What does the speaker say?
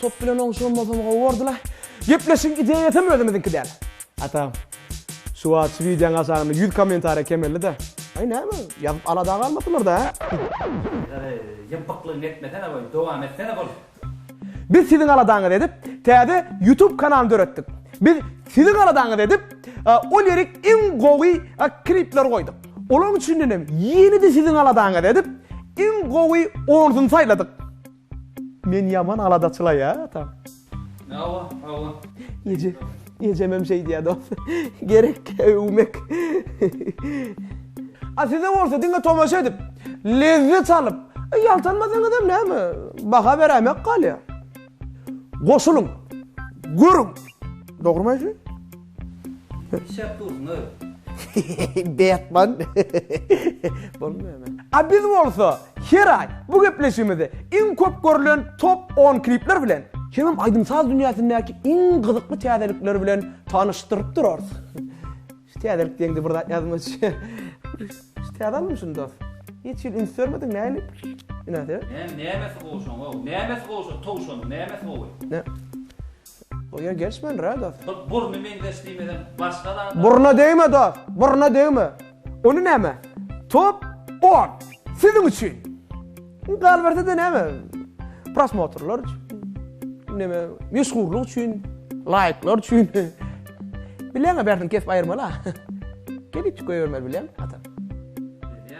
Top bilen oňşanmasam gowy bordyla. Gepleşigiň ideýasam özümiziňki däl. Ata. Şu wagt şu wideoň aşagynda ýüz kommentariýa kemeldi-dä. Aý näme, ýazyp alada galmasylar-da hä? Ýeri, ýympyklygyňy etmesene goý, dowam etsene bol. Biz siziň aladaňyzy edip, täze YouTube kanalyny döretdik. Biz siziň aladaňyzy edip, ol ýeri iň gowy klipleri goýduk. Olaň üçinden hem ýene-de siziň aladaňyzy edip, iň gowy onusyny saýladyk. Men ýaman aladaçylaýatam. Hawa, hawa. Eje, ejemem şeý diýýär dos. Gerek öwmek. A size bolsa diňe tomaşa edip, lezzet alyp, ýaltanmasaňyzam näme, baha beräýmek galýar. Goşulyň, görüň. Dogrymy aýdýan? Betman A biz bolsa her aý bu gepleşigimizi iň köp görülen top on klipler bilen, hemem aýdym-saz dünýäsindäki iň gyzykly täzelikler bilen tanyşdyryp durarys. Şu täzelik diýeňde bir zat ýazmaça. Şu täze alnymy şuny dos? Hiç hili üns bermediň nähili mynasybet? Näme, nämesi gowy şoň, how? Nämesi gowy şo towşanyň, nämesi gowy? Bu ýer gelşmändir hä dost. Bir burny meňzeş diýmeden başga zada. Burna degme dost, burna degme. Ony näme? Top on. Siziň üçin. Galbersede näme? Prosmotrlar üçin. Näme? Meşhurlyk üçin. Laýklar üçin. Bileňe bärsin kesip aýyrmaly ha. Gelip çyk goýbermeli bileň.